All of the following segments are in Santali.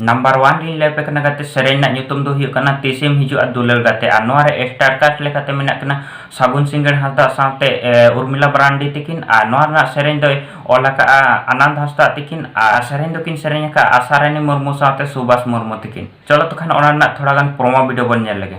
ᱱᱟᱢᱵᱟᱨ ᱣᱟᱱ ᱨᱤᱧ ᱞᱟᱹᱭ ᱟᱯᱮ ᱠᱟᱱᱟ ᱜᱟᱛᱮ ᱥᱮᱨᱮᱧ ᱨᱮᱱᱟᱜ ᱧᱩᱛᱩᱢ ᱫᱚ ᱦᱩᱭᱩᱜ ᱠᱟᱱᱟ ᱛᱤᱥᱮᱢ ᱦᱤᱡᱩᱜᱼᱟ ᱫᱩᱞᱟᱹᱲ ᱜᱟᱛᱮ ᱟᱨ ᱱᱚᱣᱟ ᱨᱮ ᱥᱴᱟᱨ ᱠᱟᱥᱴ ᱞᱮᱠᱟᱛᱮ ᱢᱮᱱᱟᱜ ᱠᱤᱱᱟ ᱥᱟᱹᱜᱩᱱ ᱥᱤᱝᱜᱟᱲ ᱦᱟᱸᱥᱫᱟ ᱥᱟᱶᱛᱮ ᱩᱨᱢᱤᱞᱟ ᱢᱟᱨᱟᱱᱰᱤ ᱛᱤᱠᱤᱱ ᱟᱨ ᱱᱚᱣᱟ ᱨᱮᱱᱟᱜ ᱥᱮᱨᱮᱧ ᱫᱚᱭ ᱚᱞ ᱟᱠᱟᱫᱼᱟ ᱟᱱᱟᱱᱫᱽ ᱦᱟᱸᱥᱫᱟ ᱛᱤᱠᱤᱱ ᱟᱨ ᱥᱮᱨᱮᱧ ᱫᱚᱠᱤᱱ ᱥᱮᱨᱮᱧ ᱟᱠᱟᱫᱼᱟ ᱟᱥᱟ ᱨᱟᱱᱤ ᱢᱩᱨᱢᱩ ᱥᱟᱶᱛᱮ ᱥᱩᱵᱷᱟᱥ ᱢᱩᱨᱢᱩ ᱛᱤᱠᱤᱱ ᱪᱚᱞᱚ ᱛᱚ ᱠᱷᱟᱱ ᱚᱱᱟ ᱨᱮᱱᱟᱜ ᱛᱷᱚᱲᱟ ᱜᱟᱱ ᱯᱨᱚᱢᱳ ᱵᱷᱤᱰᱤᱭᱳ ᱵᱚᱱ ᱧᱮᱞ ᱞᱮᱜᱮ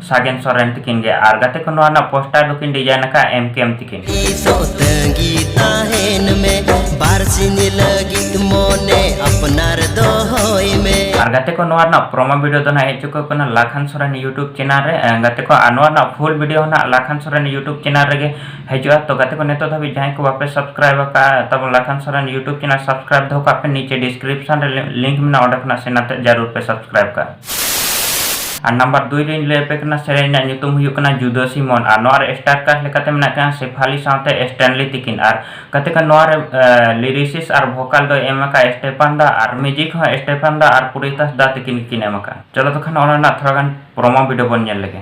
ᱥᱟᱜᱮᱱ ᱥᱚᱨᱮᱱ ᱛᱤᱠᱤᱱ ᱜᱮ ᱟᱨ ᱜᱟᱛᱮ ᱠᱚ ᱱᱚᱣᱟ ᱨᱮᱱᱟᱜ ᱯᱳᱥᱴᱟᱨ ᱫᱚᱠᱤᱱ ᱰᱤᱡᱟᱭᱤᱱ ᱟᱠᱟᱫ ᱮᱢ ᱠᱮ ᱮᱢ ᱛᱤᱠᱤᱱ ᱟᱨ ᱜᱟᱛᱮ ᱠᱚ ᱱᱚᱣᱟ ᱨᱮᱱᱟᱜ ᱯᱨᱚᱢᱳ ᱵᱷᱤᱰᱤᱭᱳ ᱫᱚ ᱱᱟᱜ ᱦᱮᱡ ᱪᱩᱠᱟᱹᱣ ᱠᱟᱱᱟ ᱞᱟᱠᱷᱟᱱ ᱥᱚᱨᱮᱱ ᱭᱩᱴᱩᱵᱽ ᱪᱮᱱᱟᱞ ᱨᱮ ᱜᱟᱛᱮ ᱠᱚ ᱟᱨ ᱱᱚᱣᱟ ᱨᱮᱱᱟᱜ ᱯᱷᱩᱞ ᱵᱷᱤᱰᱤᱭᱳ ᱱᱟᱜ ᱞᱟᱠᱷᱟᱱ ᱥᱚᱨᱮᱱ ᱭᱩᱴᱩᱵᱽ ᱪᱮᱱᱟᱞ ᱨᱮᱜᱮ ᱦᱤᱡᱩᱜᱼᱟ ᱛᱚ ᱜᱟᱛᱮ ᱠᱚ ᱱᱤᱛᱚᱜ ᱫᱷᱟᱹᱵᱤᱡ ᱡᱟᱦᱟᱸᱭ ᱠᱚ ᱵᱟᱯᱮ ᱥᱟᱵᱥᱠᱨᱟᱭᱤᱵ ᱟᱠᱟᱫᱼᱟ ᱛᱟᱵᱚᱱ Lakhan Soren YouTube channel subscribe ᱫᱚᱦᱚ ᱠᱟᱜ ᱯᱮ ᱱᱤᱪᱮ ᱰᱤᱥᱠᱨᱤᱯᱥᱚᱱ ᱨᱮ ᱞᱤᱝᱠ ᱢᱮᱱᱟᱜᱼᱟ ᱚᱸᱰᱮ ᱠᱷᱚᱱᱟᱜ ᱥᱮᱱ ᱠᱟᱛᱮ ᱡᱟᱹᱨᱩᱲ ᱯᱮ ᱥᱟᱵᱥᱠᱨᱟᱭᱤᱵ ᱠᱟᱜᱼᱟ ᱟᱨ ᱱᱟᱢᱵᱟᱨ ᱫᱩᱭ ᱨᱮᱧ ᱞᱟᱹᱭ ᱟᱯᱮ ᱠᱟᱱᱟ ᱥᱮᱨᱮᱧ ᱨᱮᱱᱟᱜ ᱧᱩᱛᱩᱢ ᱦᱩᱭᱩᱜ ᱠᱟᱱᱟ ᱡᱩᱫᱟᱹ ᱥᱤᱢᱚᱱ ᱟᱨ ᱱᱚᱣᱟ ᱨᱮ ᱥᱴᱟᱨ ᱠᱟᱥᱴ ᱞᱮᱠᱟᱛᱮ ᱢᱮᱱᱟᱜ ᱠᱤᱱᱟ ᱥᱮᱯᱷᱟᱞᱤ ᱥᱟᱶᱛᱮ ᱥᱴᱮᱱᱞᱤ ᱛᱤᱠᱤᱱ ᱟᱨ ᱠᱟᱛᱮ ᱠᱷᱟᱱ ᱱᱚᱣᱟ ᱨᱮ ᱞᱤᱨᱤᱥᱤᱥ ᱟᱨ ᱵᱷᱳᱠᱟᱞ ᱫᱚ ᱮᱢ ᱟᱠᱟᱫ ᱥᱴᱮᱯᱟᱱ ᱫᱟ ᱟᱨ ᱢᱤᱣᱡᱤᱠ ᱦᱚᱸ ᱥᱴᱮᱯᱟᱱ ᱫᱟ ᱟᱨ ᱯᱩᱨᱤᱛᱟᱥ ᱫᱟ ᱛᱤᱠᱤᱱ ᱜᱮᱠᱤᱱ ᱮᱢ ᱟᱠᱟᱫ ᱪᱚᱞᱚ ᱛᱚᱠᱷᱟᱱ ᱚᱱᱟ ᱨᱮᱱᱟᱜ ᱛᱷᱚᱲᱟ ᱜᱟᱱ ᱯᱨᱚᱢᱳ ᱵᱷᱤᱰᱤᱭᱳ ᱵᱚᱱ ᱧᱮᱞ ᱞᱮᱜᱮ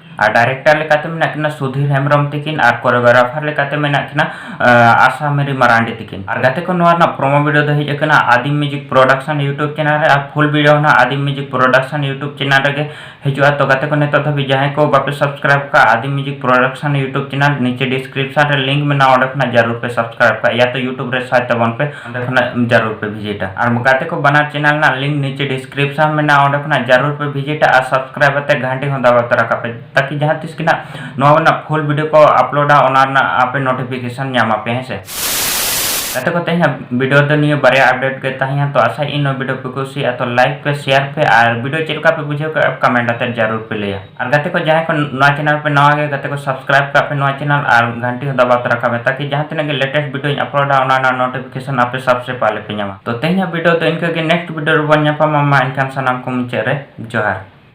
ᱟᱨ ᱰᱟᱭᱨᱮᱠᱴᱟᱨ ᱞᱮᱠᱟᱛᱮ ᱢᱮᱱᱟᱜ ᱠᱤᱱᱟ ᱥᱩᱫᱷᱤᱨ ᱦᱮᱢᱵᱨᱚᱢ ᱛᱤᱠᱤᱱ ᱟᱨ ᱠᱳᱨᱤᱭᱳᱜᱨᱟᱯᱷᱟᱨ ᱞᱮᱠᱟᱛᱮ ᱢᱮᱱᱟᱜ ᱠᱤᱱᱟ ᱟᱥᱟ ᱢᱮᱨᱤ ᱢᱟᱨᱟᱱᱰᱤ ᱛᱤᱠᱤᱱ ᱟᱨ ᱜᱟᱛᱮ ᱠᱚ ᱱᱚᱣᱟ ᱨᱮᱱᱟᱜ ᱯᱨᱳᱢᱳ ᱵᱷᱤᱰᱤᱭᱳ ᱫᱚ ᱦᱮᱡ ᱟᱠᱟᱱᱟ Adim music production YouTube channel ᱨᱮ ᱟᱨ ᱯᱷᱩᱞ ᱵᱷᱤᱰᱤᱭᱳ ᱦᱚᱸ Adim music production YouTube channel ᱨᱮᱜᱮ ᱦᱤᱡᱩᱜᱼᱟ ᱛᱚ ᱜᱟᱛᱮ ᱠᱚ ᱱᱤᱛᱚᱜ ᱫᱷᱟᱹᱵᱤᱡ ᱡᱟᱦᱟᱸᱭ ᱠᱚ ᱵᱟᱯᱮ ᱥᱟᱵᱥᱠᱨᱟᱭᱤᱵ ᱠᱟᱜᱼᱟ Adim music production YouTube channel ᱱᱤᱪᱮ ᱰᱤᱥᱠᱨᱤᱯᱥᱚᱱ ᱨᱮ ᱞᱤᱝᱠ ᱢᱮᱱᱟᱜᱼᱟ ᱚᱸᱰᱮ ᱠᱷᱚᱱᱟᱜ ᱡᱟᱹᱨᱩᱲ ᱯᱮ ᱥᱟᱵᱥᱠᱨᱟᱭᱤᱵ ᱠᱟᱜᱼᱟ ᱭᱟ ᱛᱚ ᱤᱭᱩᱴᱩᱵᱽ ᱨᱮ ᱥᱟᱨᱪ ᱛᱟᱵᱚᱱ ᱯᱮ ᱚᱸᱰᱮ ᱠᱷᱚᱱᱟᱜ ᱡᱟᱨᱩᱨ ᱯᱮ ᱵᱷᱤᱡᱤᱴᱟ ᱟᱨ ᱜᱟᱛᱮ ᱠᱚ ᱵᱟᱱᱟᱨ ᱪᱮᱱᱮᱞ ᱨᱮᱱᱟᱜ ᱞᱤᱝᱠ ᱱᱤᱪᱮ ᱰᱤᱥᱠᱨᱤᱯᱥᱚᱱ ᱢᱮᱱᱟᱜᱼᱟ ᱚᱸᱰᱮ ᱠᱷᱚᱱᱟᱜ ᱡᱟᱨᱩᱨ ᱯᱮ ᱵᱷᱤᱡᱤᱴᱟ ᱟᱨ ᱥᱟᱵᱥᱠᱨᱟᱭᱤᱵ ᱟᱛᱮ ᱜᱷᱟᱱᱴᱤ ᱦᱚᱸ ᱫᱟᱵᱟᱣ ᱛᱚᱨᱟ ᱠᱟᱜ ᱯᱮ ᱛᱟᱠᱤ ᱡᱟᱦᱟᱸ ᱛᱤᱥ ᱜᱮ ᱱᱟᱜ ᱱᱚᱣᱟ ᱨᱮᱱᱟᱜ ᱯᱷᱩᱞ ᱵᱷᱤᱰᱤᱭᱳ ᱠᱚ ᱟᱯᱞᱳᱰᱟ ᱚᱱᱟ ᱨᱮᱱᱟᱜ ᱟᱯᱮ ᱱᱳᱴᱤᱯᱷᱤᱠᱮᱥᱚᱱ ᱧᱟᱢ ᱟᱯᱮ ᱦᱮᱸ ᱥᱮ ᱜᱟᱛᱮ ᱠᱚ ᱛᱮᱦᱮᱧ ᱵᱷᱤᱰᱤᱭᱳ ᱫᱚ ᱱᱤᱭᱟᱹ ᱵᱟᱨᱭᱟ ᱟᱯᱰᱮᱴ ᱜᱮ ᱛᱟᱦᱮᱸᱭᱟ ᱛᱚ ᱟᱥᱟᱭ ᱤᱧ ᱱᱚᱣᱟ ᱵᱷᱤᱰᱤᱭᱳ ᱯᱮ ᱠᱩᱥᱤᱭᱟᱜᱼᱟ ᱛᱚ ᱞᱟᱭᱤᱠ ᱯᱮ ᱥᱮᱭᱟᱨ ᱯᱮ ᱟᱨ ᱵᱷᱤᱰᱤᱭᱳ ᱪᱮᱫ ᱞᱮᱠᱟ ᱯᱮ ᱵᱩᱡᱷᱟᱹᱣ ᱠᱮᱫᱟ ᱠᱚᱢᱮᱱᱴ ᱟᱛᱮ ᱡᱟᱨᱩᱨ ᱯᱮ ᱞᱟᱹᱭᱟ ᱟᱨ ᱜᱟᱛᱮ ᱠᱚ ᱡᱟᱦᱟᱸᱭ ᱠᱚ ᱱᱚᱣᱟ ᱪᱮᱱᱮᱞ ᱯᱮ ᱱᱟᱣᱟ ᱜᱮ ᱜᱟᱛᱮ ᱠᱚ ᱥᱟᱵᱥᱠᱨᱟᱭᱤᱵ ᱠᱟᱜ ᱯᱮ ᱱᱚᱣᱟ ᱪᱮᱱᱮᱞ ᱟᱨ ᱜᱷᱟᱱᱴᱤ ᱦᱚᱸ ᱫᱟᱵᱟᱣ ᱛᱚᱨᱟ ᱠᱟᱜ ᱢᱮ ᱛᱟᱠᱤ ᱡᱟᱦᱟᱸ ᱛᱤᱱᱟᱹᱜ ᱜᱮ ᱞᱮᱴᱮᱥᱴ ᱵᱷᱤᱰᱤᱭᱳᱧ ᱟᱯᱞᱳᱰᱟ ᱚᱱᱟ ᱨᱮᱱᱟᱜ ᱱᱳᱴᱤᱯᱷᱤᱠᱮᱥᱚᱱ ᱟᱯᱮ ᱥᱚᱵᱥᱮ ᱯᱟᱦᱞᱮ ᱯᱮ ᱧᱟᱢᱟ ᱛᱚ ᱛᱮᱦᱮᱧᱟᱜ ᱵᱷᱤᱰᱤᱭᱳ ᱫᱚ ᱤᱱᱠᱟᱹ ᱜᱮ ᱱᱮᱠᱥᱴ ᱵᱷᱤᱰᱤᱭᱳ ᱨᱮᱵᱚᱱ ᱧᱟᱯᱟᱢᱟ ᱢᱟ ᱮᱱᱠᱷᱟᱱ ᱥᱟᱱᱟᱢ ᱠᱚ ᱢᱩᱪᱟᱹᱫ ᱨᱮ ᱡᱚᱦᱟᱨ